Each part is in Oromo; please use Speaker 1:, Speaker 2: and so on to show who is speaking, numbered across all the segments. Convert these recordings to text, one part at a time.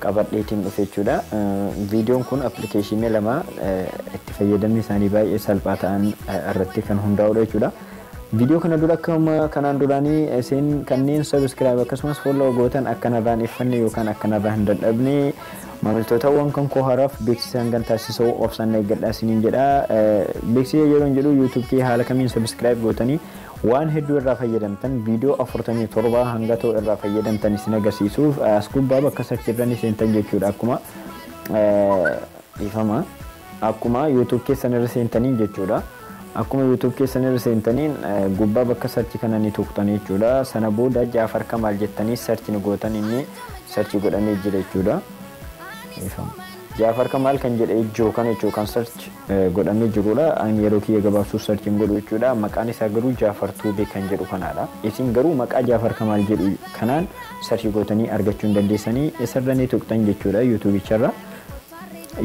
Speaker 1: qabadheetiin dhufe jechuudha. Viidiyoon kun appilikeeshinii lama itti fayyadamni isaanii baay'ee salphaa ta'an irratti kan hundaa'udha jechuudha. Viidiyoo kana dura akkuma kanaan duraanii isin kanneen sabiskiraayib akkasumas folloo gootan akka narraan iffanne yookaan akka narraa hin dadhabne maamiltootawwan kan koo haraaf beeksisa hangan taasisoo obsaan eeggadhaa isiniin jedha. Beeksisa yeroo hin jedhu yuutuub kee haala kamiin sabiskiraayib gootanii Waan hedduu irraa fayyadamtan video 47 hanga too irraa fayyadamtan isin agarsiisuuf as gubbaa bakka search irra ni seentan jechuudha akkuma dhiifama akkuma youtube keessan irra seentaniin jechuudha akkuma youtube keessan irra seentaniin gubbaa bakka search kana ni tuqxan jechuudha sana booda jaafar kamaal jettanii search ni gootan inni search godhamee jira jechuudha dhiifama. Jafar kamal kan jedhe jiru kana jechuudha kan search godhame jirudha an yeroo kiyya gabaabsuuf search hin godhu jechuudha maqaan isaa garuu jafar tube kan jedhu kanaadha isin garuu maqaa jafar kamal jedhu kanaan search gootanii argachuu hin dandeessanii isarra ni tuqxan jechuudha youtube charra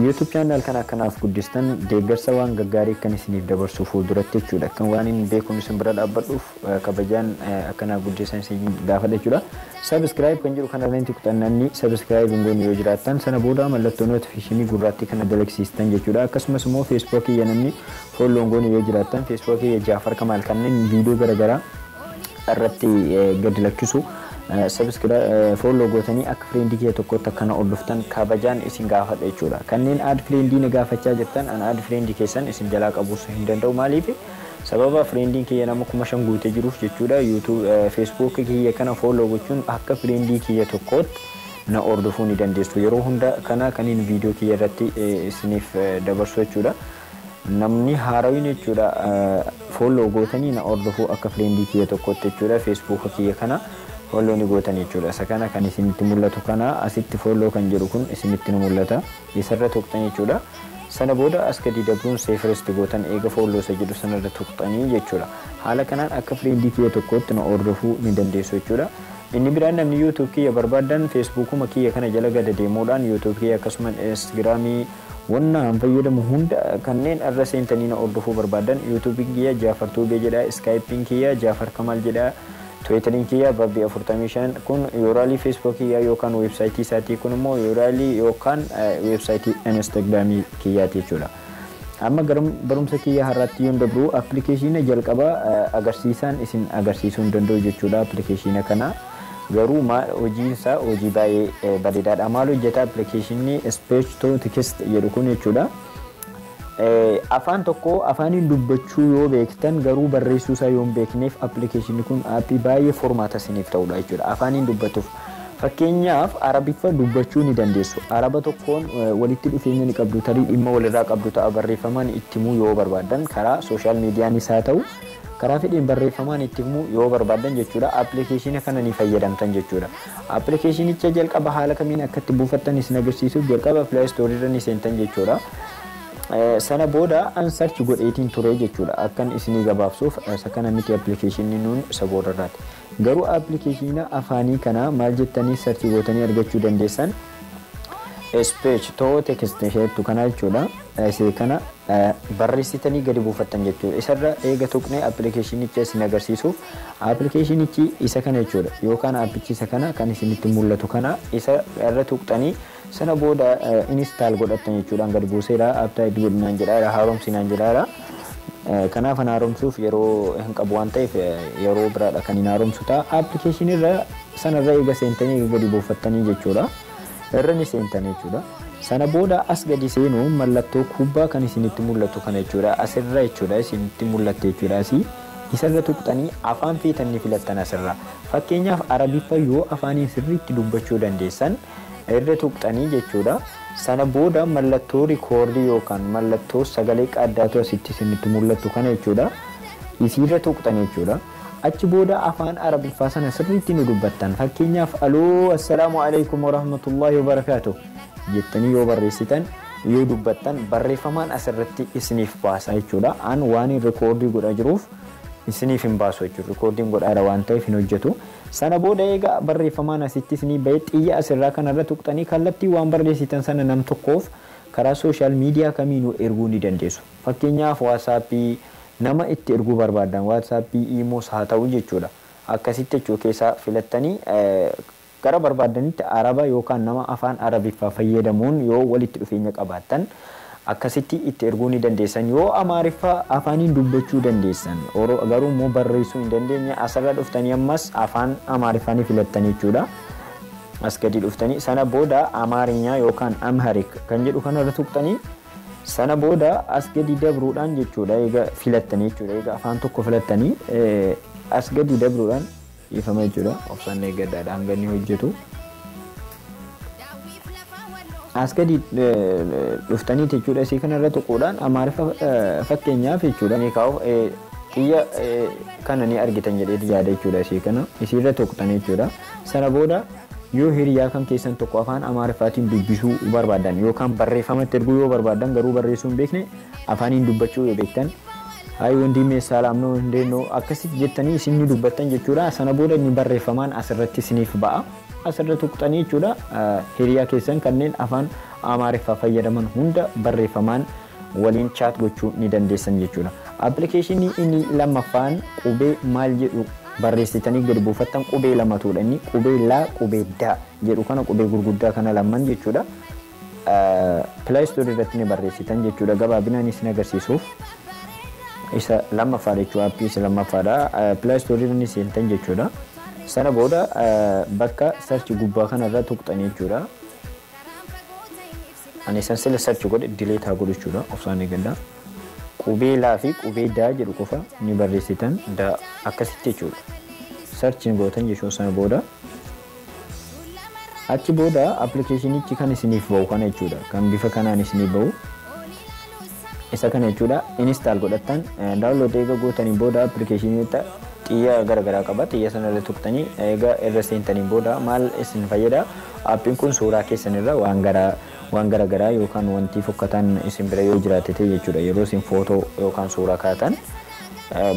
Speaker 1: youtube channel kana akkanaaf guddistan deeggarsa waan gaggaarii kan isiniif dabarsu fuulduratti jechuudha kan waan hin beekun isin bira dhaabbadhuuf kabajaan akka naa guddisan isin gaafadha jechuudha. Subscribe kan jedhu kana irratti tuqxan namni subscribe hin goone yoo jiraattan sana booda mallattoo notification gurraattii kana dalagsiistan jechuudha. Akkasumas immoo Facebook kiyya namni follow hin goone yoo jiraattan Facebook kiyya Jaafar Kamaal kanneen viidiyoo garaagaraa irratti gad lakkisu subscribe follow gootanii akka friend kiyya tokkotti akkana hordoftan kabajaan isin gaafadha jechuudha. Kanneen add friend na gaafachaa jirtan an add friend keessan isin jalaa qabuus hin danda'u maaliif Sababa friendin kiyya nama kuma shan guute jiruuf jechuudha youtube facebook kiyya kana follow gochuun akka friendii kiyya tokkootti na hordofuu ni dandeessu yeroo hunda kana kanin video kiyya irratti isiniif dabarsu jechuudha namni haarawin jechuudha follow gootanii na hordofuu akka friendii kiyya tokkootti jechuudha facebook kiyya kana follow ni gootan jechuudha isa kana kan isinitti mul'atu kana asitti follow kan jedhu kun isinitti ni mul'ata isarra tuqxan jechuudha. Sana booda as gadii dabruun save first gootan eega follow isa jedhu sanarra tuqxanii jechuudha. Haala kanaan akka friend kiyya tokkootti na hordofuu ni dandeessu jechuudha. Inni biraan namni youtube kiyya barbaaddan facebookuma kiyya kana jala gada deemuudhaan youtube kiyya akkasuman instagram wanna an fayyadamu hunda kanneen irra seentanii na hordofuu barbaaddan youtube kiyya jafar tube jedha skype kiyya jafar kamal jedha Tweeteriin kiyya Babbi 45 kun URL Facebook kiyya yookaan website isaatii kun immoo URL yookaan website Instagram kiyyaati jechuudha. Amma gara barumsa kiyya har'aatti yoon dabru appilikeeshiina jalqaba agarsiisaan isin agarsiisuu hin danda'u jechuudha appilikeeshiina kana. Garuu hojiinsaa hojii baay'ee bareedaadha. Maal hojjeta appilikeeshiinni speech to text jedhu kun jechuudha. Afaan tokko afaaniin dubbachuu yoo beektan garuu barreessuu isaa yoo hin beekneef appilikeeshinni kun aappii baay'ee formaata isiniif ta'udha jechuudha. Afaaniin dubbatuuf fakkeenyaaf arabiffa dubbachuu ni dandeessu. Araba tokkoon walitti dhufeenya ni qabdu tarii dhimma walirraa qabdu ta'a barreeffamaan itti himuu yoo barbaaddan karaa sooshaal miidiyaanis haa ta'u karaa fedheen barreeffamaan itti himuu yoo barbaaddan jechuudha appilikeeshina kana ni fayyadamtan jechuudha. Appilikeeshinicha jalqaba haala kamiin akka itti buufattan isin agarsiisuuf jalqaba Play Store irra ni seentan jechuudha. Sana booda an search godheetiin ture jechuudha. Akkan isinii gabaabsuuf isa kana miti appilikeeshinni nuun isa boodarraati. Garuu appilikeeshina afaanii kana maal jettanii search gootanii argachuu dandeessan? Speech to text isheettu kana jechuudha. Isee kana barreessitanii gadi buufattan jechuudha. Isarra eega tuqnee appilikeeshinicha isin agarsiisuuf appilikeeshinichi isa kana jechuudha. Yookaan appichi isa kana kan isinitti mul'atu kana isa irra tuqxanii sana booda install godhattan jechuudha. Gad buuseera apptaayit godhinaan jedhaara haaromsinaan jedhaara. Kanaaf an haaromsuuf yeroo hin qabu waan ta'eef yeroo biraadha kan hin haaromsu ta'a. Appilikeeshinirra Sana irra eega seentanii eega gadi buufattanii jechuudha. Irra ni seentan jechuudha. Sana booda as gadi seenuun mallattoo kubbaa kan isinitti mul'atu kana jechuudha. As irra jechuudha isinitti mul'atti jechuudha asii. Isa irra tuqxanii afaan feetan ni filattan as irra. Fakkeenyaaf Arabiffa yoo afaaniin sirriitti dubbachuu dandeessan irra tuqxanii jechuudha. Sana booda mallattoo rikoordii yookaan mallattoo sagalee qaaddaatu asitti isinitti mul'attu kana jechuudha. Isiirra tuqxanii jechuudha. Achi booda afaan Arabiffaa sana sirriitti ni dubbattan. Fakkeenyaaf aloo assalaamu alaikum warahmatullaahi wabarakaatu jettanii yoo barreessitan yoo dubbattan barreeffamaan asirratti isiniif baasa jechuudha. An waanin rikoordii godhaa jiruuf isiniif hin baasu jechuudha. Rikoordiin godhaara waan ta'eef hin hojjetu. Sana booda egaa barreeffamaan asitti isinii ba'e xiyya asirraa kanarra tuqxanii kallattii waan barreessitan sana nam tokkoof karaa sooshaal miidiyaa kamiinuu erguu ni dandeessu. Fakkeenyaaf waasaappii, Nama itti erguu barbaadan WhatsApp, Imoos haa ta'u jechuudha. Akkasitti jechuu keessaa filattanii gara barbaaddanitti Araba yookaan nama afaan Arabiffaa fayyadamuun yoo walitti dhufeenya qabaattan akkasitti itti erguu ni dandeessan. Yoo Amaariffa afaaniin dubbachuu dandeessan garuu immoo barreessuu hin dandeenye asirra dhuftanii ammas afaan Amaariffaa ni filattan jechuudha. As gadi dhuftanii sana booda Amaarinyaa yookaan Amharic kan jedhu kanarra tuqxanii Sana booda as gadi dabruudhaan jechuudha eega filattanii jechuudha eega afaan tokko filattanii as gadi dabruudhaan dhiifama jechuudha obsaan eeggadhaadha hanga inni hojjetu. As gadi dhuftanii jechuudha isii kanarra tuquudhaan amaariffa fakkeenyaaf jechuudha ni kaa'u xiyya kana ni argitan jedheeti yaada jechuudha isii kana isiirra tuqxanii jechuudha sana booda. Yoo hiriyaa kan keessan tokko afaan Amaariffaatiin dubbisuu barbaadan yookaan barreeffamatti erguu yoo barbaadan garuu barreessuu hin beekne afaaniin dubbachuu yoo beektan Hayi wondiimee saalaam noo hundee noo akkasitti jettanii isin ni dubbattan jechuudha. Sana booda inni barreeffamaan asirratti isiniif ba'a. Asirra tuqxanii jechuudha hiriyaa keessan kanneen afaan Amaariffaa fayyadaman hunda barreeffamaan waliin chat gochuu ni dandeessan jechuudha. Application inni lammaffaan qubee maal jedhu barreessitanii gadi buufattan qubee lamatuudha inni qubee laa qubee daa jedhu kana qubee gurguddaa kana lamaan jechuudha. Play Store irratti ni barreessitan jechuudha gabaabinaan isin agarsiisuuf. isa lammaffaa jechuudha appii isa lammaffaadha play store irra ni seentan jechuudha sana booda bakka search gubbaa kana irra tuqxan jechuudha Ani isan sila search godhe delete haa godhu jechuudha obsaan eegadha. Qubee laa fi qubee daa jedhu qofa ni barreessitan da akkasitti jechuudha. Search ni gootan jechuudha sana booda. Achi booda appilikeeshinichi kan isiniif bahu kana jechuudha. Kan bifa kanaan isiniif bahu. Isa kana jechuudha install godhattan download eega gootaniin booda appilikeeshiniita xiyya gara garaa qaba xiyya sana irra tuqtanii eega irra seentaniin booda maal isin fayyada appiin kun suuraa keessan irra waan gara waan gara garaa yookaan wantii fokkataan isin bira yoo jiraate ta'e jechuudha yeroo isin footoo yookaan suuraa kaatan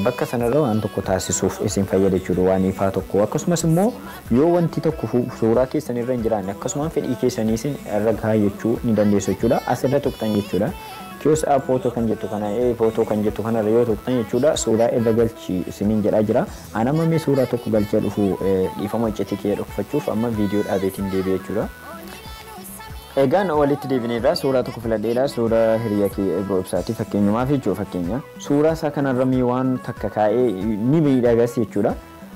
Speaker 1: Bakka sanarra waan tokko taasisuuf isin fayyada jechuudha. Waan ifaa tokko. Akkasumas immoo yoo wanti tokko suuraa keessan irra hin jiraanne akkasumaan fedhii keessanii isin irra kaayyachuu ni dandeessu jechuudha. As irra tuqxan jechuudha. Kiyoos app footoo kan jettu kana ee footoo kan jettu kanarra yoo tuqxan jechuudha suuraa irra galchi isiniin jedhaa jira. An amma mee suuraa tokko galchee dhufu dhiifama iccitii kiyya dhokfachuuf amma viidiyoo dhaabeetiin deebi'e jechuudha. Egaan walitti deebineerraa suuraa tokko filadheera suuraa hiriyaa kiyya Ebroo Ibsaati fakkeenyumaaf jechuudha fakkeenya. Suuraa isaa kanarra mee waan takka kaa'ee ni miidhagas jechuudha.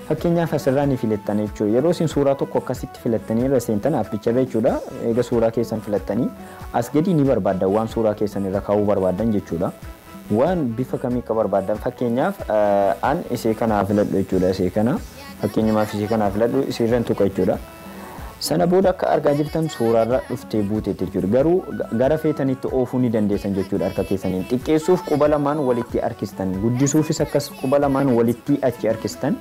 Speaker 1: Fakkeenyaaf asirraa ni filattan jechuudha. Yeroo isin suuraa tokko akkasitti filattanii irra seentan appicharra jechuudha. Eega suuraa keessan filattanii as gadi ni barbaaddan waan suuraa keessan irra kaa'uu barbaaddan jechuudha. Waan bifa kamii akka barbaaddan fakkeenyaaf an isee kanaa filadhu jechuudha isee kana. Fakkeenyumaaf isee kanaa filadhu isiirran tuqa jechuudha. Sana booda akka argaa jirtan suuraarra dhuftee buutee jechuudha. Garuu gara feetanitti oofuu ni dandeessan jechuudha harka keessaniin. Xiqqeessuuf quba lamaan walitti harkistan. Guddisuufis akkas quba lamaan walitti achi harkistan.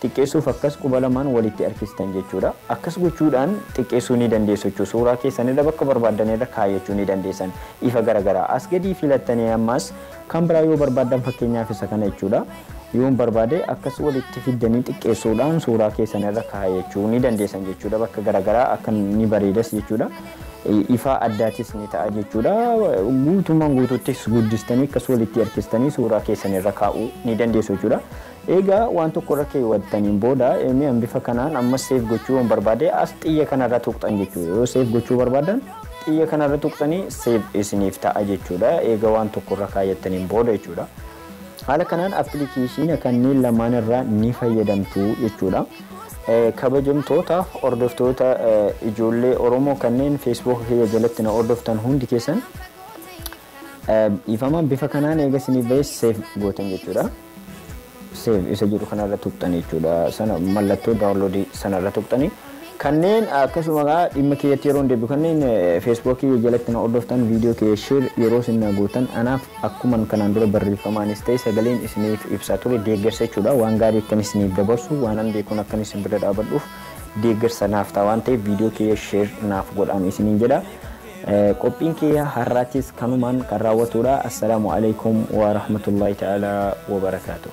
Speaker 1: Xiqqeessuuf akkas quba lamaan walitti harkistan jechuudha. Akkas gochuudhaan xiqqeessuu ni dandeessu jechuudha. Suuraa keessanirra bakka barbaaddanirra kaayyachuu ni dandeessan. Ifa garagaraa as gadii filattanii ammas Kan biraa yoo barbaaddan fakkeenyaaf isa kana jechuudha. Yoon barbaade akkas walitti fiddanii xiqqeessuudhaan suuraa keessan irra kaayachuu ni dandeessan jechuudha. Bakka garaagaraa akka ni bareedas jechuudha. Ifaa addaatis ni ta'a jechuudha. Guutummaan guutuuttis guddistanii akkas walitti harkistanii suuraa keessan irra kaa'uu ni dandeessu jechuudha. Eega waan tokko irra keewwattaniin booda mee an bifa kanaan ammas save gochuu yoon barbaade as xiyya kana irra tuqxan jechuudha. Yoo save gochuu barbaadan xiyya kana irra tuqxanii save isiniif ta'a jechuudha. Eega waan tokko irra kaayyattaniin booda jechuudha. Haala kanaan appilikeeshiina kanneen lamaan irraa ni fayyadamtu jechuudha. Kabajamtoota hordoftoota ijoollee Oromoo kanneen Facebook kiyya jalatti na hordoftan hundi keessan Dhiifama bifa kanaan eega isiniif ba'ee save gootan jechuudha. Save isa jedhu kanarra tuqxanii jechuudha. Sana mallattoo download sanarra tuqxanii. Kanneen akkasuma egaa dhimma kiyyatti yeroo deebi'u kanneen Facebook jalatti na hordoftan viidiyoo kiyya share yeroo isin na gootan anaaf akkuma kanaan dura barreeffamaanis ta'e sagaleen isiniif ibsaa ture deeggarsa jechuudha. Waan gaarii akkan isiniif dabarsu waan an beekuun akkan isin bira dhaabadhuuf deeggarsa naaf ta'a waan ta'eef viidiyoo kiyya share naaf godhaan isiniin jedha. Qophiin kiyya har'aatis kanumaan kan raawwatuudha. Assalaamu Aleykum Wa Rahmatullaahi Ta'aalaa Wa Barakaatuh.